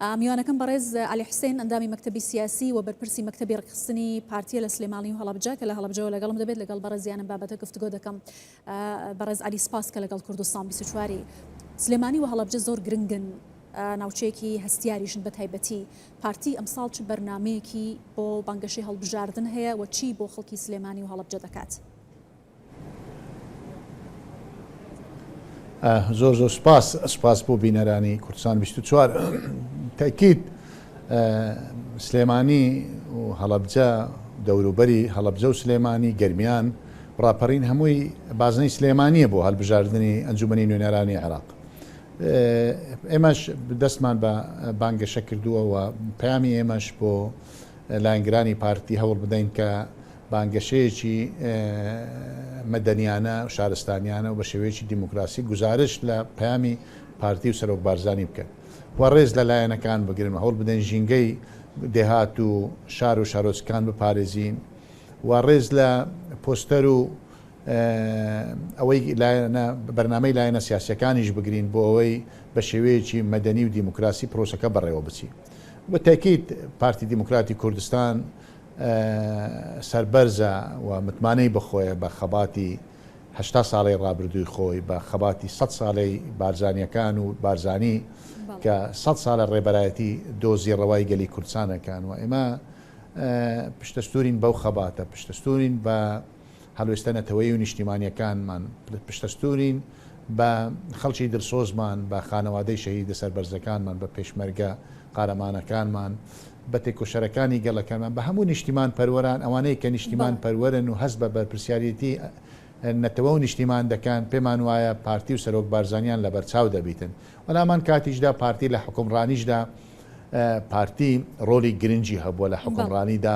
میوانەکەم بەڕێز عەلی حوسێن ئەندامی مەکتەبی سیاسی و بەرپرسی مەکتەبی ڕێکخستنی پارتیە لە سلێماڵی و هەڵەبجە کە لە هەڵەبجەوە لەگەڵم دەبێت لەگەڵ بەڕێزیانم بابەتە گفتگۆ دەکەم بەڕێز عەلی سپاس کە لەگەڵ کوردستان بیست و چواری سلێمانی و هەڵەبجە زۆر گرنگن ناوچەیەکی هەستیاریشن بە تایبەتی پارتی ئەمساڵ چ بەرنمەیەکی بۆ بانگەشەی هەڵبژاردن هەیە و چی بۆ خەڵکی سلێمانی و هەڵەبجە دەکات. زۆر زۆر سپاس سپاس بۆ بینەرانی کوردستان 24 تاکیت سلێمانی و هەڵەبجە دەوروبەری هەڵەبجە و سلێمانی گەرمیان ڕاپەڕین هەمووی بازنەی سلێمانیە بۆ هەلبژاردننی ئەنجومی نوێنەرانی عێراق ئێمەش دەستمان بە بانگەشە کردووە و پامی ئێمەش بۆ لایەنگرانی پارتی هەوڵ بدەین کە بانگەشەیەکی مەدەنیانە و شارستانیانە و بە شێوەیەکی دیموکراسی گوزارشت لە پەیامی پارتی و سەرۆک بارزانی بکەن و ڕێز لە لایەنەکان بگرن و هەوڵبدەین ژینگەی دێهات و شار و شارۆچکەکان بپارێزین و ڕێز لە پۆستەر و ئەوەی لایەنە بەرنامەی لایەنە سیاسیەکانیش بگرین بۆ ئەوەی بە شێوەیەکی مەدەنی و دیموکراسی پرۆسەکە بەڕێوە بچی بە تاکیت پارتی دیموکراتی کوردستان سەربەرزە و متمانەی بەخۆیە بە خەباتی هەشتا ساڵەی ڕابردووی خۆی، بە خەباتی سەد سالەی بارزانیەکان و بارزانی کە سەد سالە ڕێبەرایەتی دۆزی ڕەوای گەلی کوردسانەکان و ئێمە پشتەستورین بەو خەباتە، پشتەستورین بە. هەڵوێستە نەتەوەیی و نیشتیمانیەکانمان پشتەستوورین بە خەڵکی دلسۆزمان، بە خانەوادەی شەهیدە سەربەرزەکانمان، بە پێشمەرگە قارەمانەکانمان، بە تێکۆشەرەکانی گەڵەکەمان، بە هەموو نیشتیمان پەروەران، ئەوانەی کە نیشتیمان پەروەرن و هەست بە بەرپرسیاریەتی نەتەوە و نیشتیمان دەکەن، پێمان وایە پارتی و سەرۆک بارزانیان لەبەرچاو دەبیتن و لەهەمان کاتیشدا پارتی لە حوکمڕانیشدا پارتی ڕۆلی گرنگی هەبووە لە حوکمڕانیدا.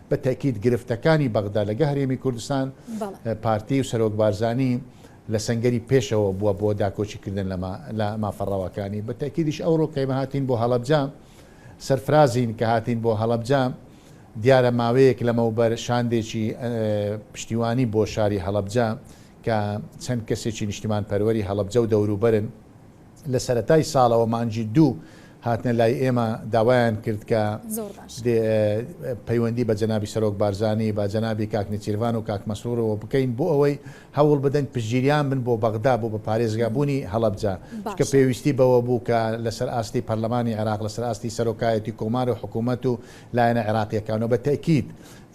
بە تەئکید گرفتەکانی بەغدا لەگە هەرێمی کوردستان پارتی و سەرۆک بارزانی لە سەنگەری پێشەوە بووە بۆ داکۆکی کردن لە لە مافە ڕەواکانی بە تەئکیدیش ئەوڕۆ کەیمە هاتین بۆ هەڵەبجە سەرفرازین کە هاتین بۆ هەڵەبجە دیارە ماوەیەک لەمەوبەر شاندێکی پشتیوانی بۆ شاری هەڵەبجە کە چەند کەسێکی نیشتیمان پەروەری هەڵەبجە و دەوروبەرن لە سەرەتای ساڵەوە مانگی دوو هاتنە لای ئێمە داوایان کرد کە زۆر باش. دێ پەیوەندی بە جەنابی سەرۆک بارزانی بە جەنابی کاک نێچیرڤان و کاک مەسرورەوە بکەین بۆ ئەوەی هەوڵ بدەن پشتگیریان بن بۆ بەغدا بۆ بە پارێزگا بوونی هەڵەبجە چونکە باشە. پێویستی بەوە بوو کە لە سەر ئاستی پەرلەمانی عێراق لە سەر ئاستی سەرۆکایەتی کۆمار و حکوومەت و لایەنە عێراقییەکان و بە تەئکید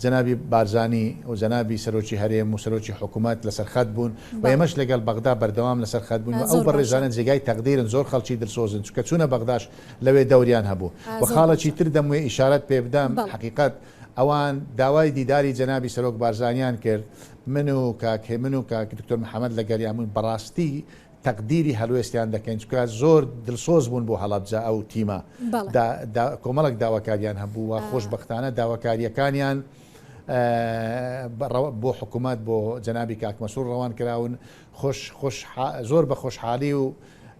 جەنابی بارزانی و جەنابی سەرۆکی هەرێم و سەرۆکی حکومەت لەسەر خەت بوون و ئێمەش لەگەڵ بەغدا بەردەوام لەسەر خەت بووین و ئەو بەڕێزانە جێگای تەقدیرن زۆر خەڵکی دلسۆزن چونکە چوونە بەغداش لەوێ دەوریان هەبوو و خاڵێکی تر دەموێ ئیشارەت پێ بدەم حەقیقەت ئەوان داوای دیداری جەنابی سەرۆک بارزانیان کرد من و کاک هێمن و کاک دکتۆر محمد لەگەڵیان بووین بەڕاستی تەقدیری هەڵوێستیان دەکەین چونکە زۆر دلسۆز بوون بۆ هەڵەبجە ئەو تیمە کۆمەڵک داواکاریان هەبوو و خۆشببختانە داواکاریەکانیان بۆ حکوومەت بۆ جەنابی کاکمەسوور ڕەوان کراون خۆش زۆر بە خۆشحالی و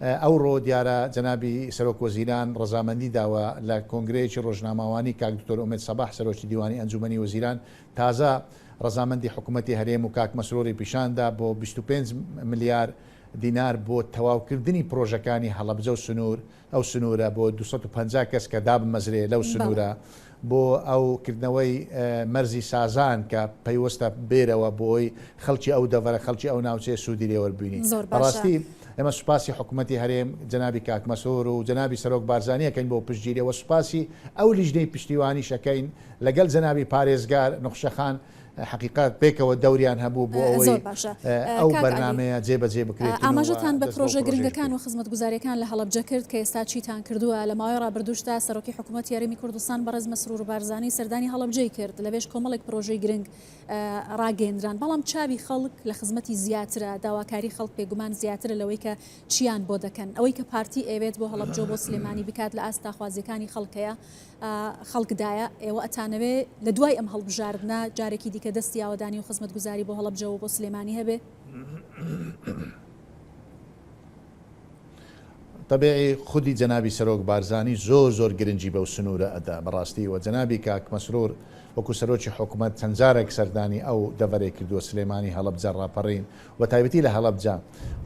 ئەو ڕۆ دیارە جەنابی سەرۆک وەزیران ڕزامەندی داوە لە کۆنگرەیەکی ڕۆژناماوانی کاک دکتۆر ئومێت سەباح سەرۆکی دیوانی ئەنجومی وەزیران تازە ڕەزامەندی حکومەتی هەرێم و کاک مەسروری پیشاندا بۆ بیست و پێنج ملیار دینار بۆ تەواوکردنی پرۆژەکانی هەڵەبجە و سنور ئەو سنورە بۆ دوو سەد و پەنجا کەس کە دابمەزرێ لەو سنورە بۆ ئەو کردنەوەی مەرزی سازان کە پەیوەستە بێرەوە بۆی خەڵکی ئەو دەڤەرە خەڵکی ئەو ناوچەیە سودی لێوەربینی بەڕاستی ئێمە سوپاسی حکومەتی هەرێم جەنابی کاک مەسرور و جەنابی سەرۆک بارزانی ئەکەین بۆ پشتگیری وە سوپاسی ئەو لیژنەی پشتیوانیش ئەکەین لەگەل جەنابی پارێزگار نوخشە خان حەقیقەت پێکەوە دەوریان هەبوو بۆ ئەوەی ئەو بەرنامەیە جێ بەجێ بکرێت ئاماژەتان بە پرۆژە گرنگەکان و خزمەتگوزاریەکان لە هەڵەبجە کرد کە ئێستا چیتان کردووە لە ماوەی ڕابردووشدا سەرۆکی حکوومەت یاریمی کوردستان بەڕێز مەسرور بارزانانی سەردانی هەڵەبجەی کرد لەبێژ کۆمەڵێک پرۆژەی گرنگ ڕاگەندران بەڵام چاوی خەڵک لە خزمەتی زیاترە داواکاری خەڵک پێگومان زیاترە لەوەی کە چیان بۆ دەکەن ئەوەی کە پارتی ئەوێت بۆ هەڵەبجە بۆ سلێمانی بکات لە ئاست تاخوازیەکانی خەڵکەیە خەڵک دایە، ئێوە ئەتانەوێ لە دوای ئەم هەڵبژاردنە جارێکی دیکە دەستی یاوەدانی و خزمەتگوزاری بۆ هەڵەبجە و بۆ سلێمانی هەبێ؟ تەبیعی خودی جەنابی سەرۆک بارزانی زۆر زۆر گرنگی بەو سنوورە ئەدا بەڕاستی و جەنابی کاک مەسرور وەکو سەرۆکی حکومەت چەند جارێک سەردانی ئەو دەڤەرەی کردووە سلێمانی هەڵەبجە ڕاپەڕین و تایبەتی لە هەڵەبجە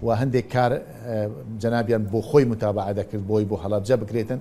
و هەندێک کار جەنابیان بۆ خۆی متابەعە دەکرد بۆی بۆ هەڵەبجە بکرێتن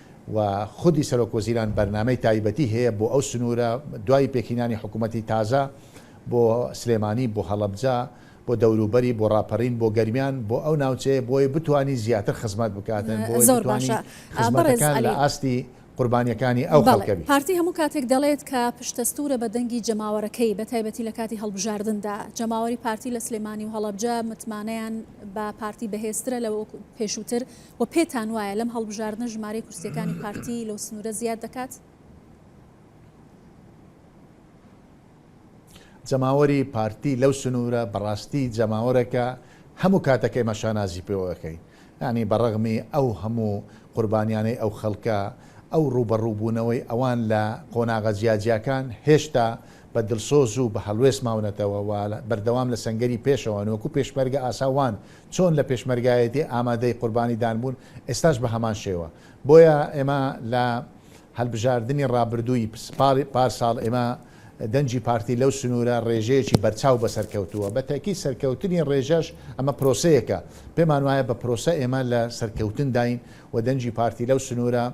و خودی سەرۆک وەزیران بەرنامەی تایبەتی هەیە بۆ ئەو سنوورە، دوای پێکهینانی حکوومەتی تازە، بۆ سلێمانی، بۆ هەڵەبجە، بۆ دەوروبەری، بۆ ڕاپەڕین، بۆ گەرمیان، بۆ ئەو ناوچەیە بۆی بتوانی زیاتر خزمەت بکات، بۆی بتوانی خزمەتەکان لە ئاستی قوربانییەکانی ئەو خەڵکە بێت. پارتی هەموو کاتێک دەڵێت کە پشتەستوورە بە دەنگی جەماوەرەکەی، بە تایبەتی لە کاتی هەڵبژاردندا. جەماوەری پارتی لە سلێمانی و هەڵەبجە متمانەیان بە پارتی بەهێزترە لە وەک پێشووتر، وە پێتان وایە لەم هەڵبژاردنە ژمارەی کورسیەکانی پارتی لەو سنورە زیاد دەکات؟ جەماوەری پارتی لەو سنورە بەڕاستی جەماوەرەکە هەمو کاتەک ئێمە شانازی پێوە ئەکەین یانی بەڕەغمی ئەو هەمو قوربانیانەی ئەو خەڵکە ئەو ڕوبەڕو بونەوەی ئەوان لە قۆناغە جیاجیاکان هێشتا بە دڵسۆزو بە هەڵوێست ماونەتەوە و بەردەوام لە سەنگەری پێشەوەن وەکو پێشمەرگە ئاسا وان چۆن لە پێشمەرگایەتی ئامادەی قوربانی دان بوون ئێستاش بە هەمان شێوە بۆیە ئێمە لە هەلبژاردنی ڕابردووی پارساڵ ئێمە دەنگی پارتی لەو سنوورە ڕێژەیەکی بەرچاو بەسەر کەوتووە بە تەئکید سەرکەوتنی ڕێژەش ئەمە پرۆسەیەکە پێمان وایە بە پرۆسە ئێمە لە سەرکەوتن داین و دەنگی پارتی لەو سنوورە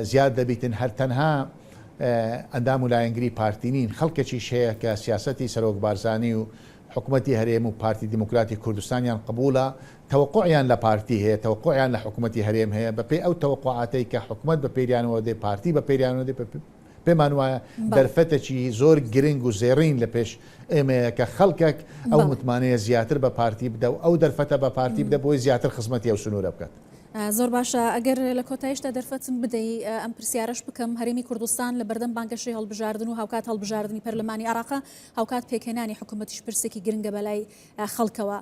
زیاد دەبیتن هەر تەنها ئەندام و لایەنگری پارتی نین خەڵکەکیش هەیە کە سیاسەتی سەرۆک بارزانی و حکومەتی هەرێم و پارتی دیموکراتی کوردستانیان قبوڵە، تەوەقوعیان لە پارتی هەیە، تەوەقوعیان لە حکومەتی هەرێم هەیە، بە پێی ئەو تەوەقوعاتەی کە حکومەت بە پێریانەوە دێ، پارتی بە پێریانەوە دێ، پێمان وایە دەرفەتەکی زۆر گرنگ و زێڕین لە پێش ئێمەیە کە خەڵکەک ئەو متمانەیە زیاتر بە پارتی بدە و ئەو دەرفەتە بە پارتی بدە بۆی زیاتر خزمەتی ئەو سنوورە بکات. زۆر باشە، ئەگەر لە کۆتایشدا دەرفەتم بدەی ئەم پرسیارەش بکەم، هەرێمی کوردستان لە بەردەم بانگەشەی هەڵبژاردن و هاوکات هەڵبژاردنی پەرلەمانی عێراقە، هاوکات پێکهێنانی حکومەتیش پرسێکی گرنگە بەلای خەڵکەوە،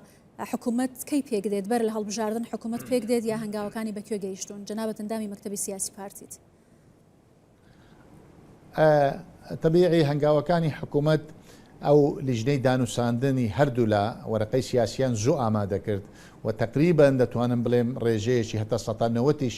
حکومەت کەی پێکدێت؟ بەر لە هەڵبژاردن حکومەت پێکدێت یا هەنگاوەکانی بە کوێ گەیشتوون؟ جەنابت ئەندامی مەکتەبی سیاسی پارتیت. تەبیعی هەنگاوەکانی حکومەت ئەو لیژنەی دانوساندنی هەردوولا وەرەقەی سیاسیان زوو ئامادەکرد و تەقریبەن دەتوانم بڵێم ڕێژەیەکی هەتا سەتا نەوەتیش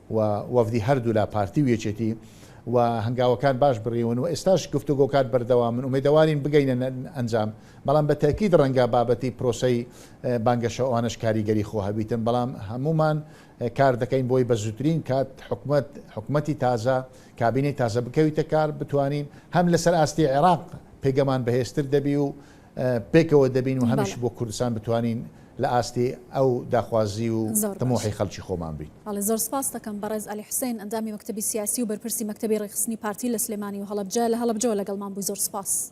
و وەفدی هەردوولا پارتی و یەکێتی و هەنگاوەکان باش بڕیون و ئێستاش گفتوگۆکان بەردەوامن ئومێدەوارین بگەینە ئەنجام بەڵام بە تەئکید ڕەنگە بابەتی پرۆسەی بانگەشە ئەوانەش کاریگەری خۆ هەبیتن بەڵام هەموومان کار دەکەین بۆی بە زووترین کات حکومەت حکومەتی تازە کابینەی تازە بکەویتە کار بتوانین هەم لەسەر ئاستی عێراق پێگەمان بەهێزتر دەبی و پێکەوە دەبین و هەمیش بۆ کوردستان بتوانین لە ئاستی ئەو داخوازی و تموحی خەڵکی خۆمان بین. بەڵێ زۆر سپاست دەکەم بەڕێز عەلی حوسێن ئەندامی مەکتەبی سیاسی و بەرپرسی مەکتەبی ڕێکخستنی پارتی لە سلێمانی و هەڵەبجە لە هەڵەبجەوە لەگەڵمان بووی زۆر سپاس.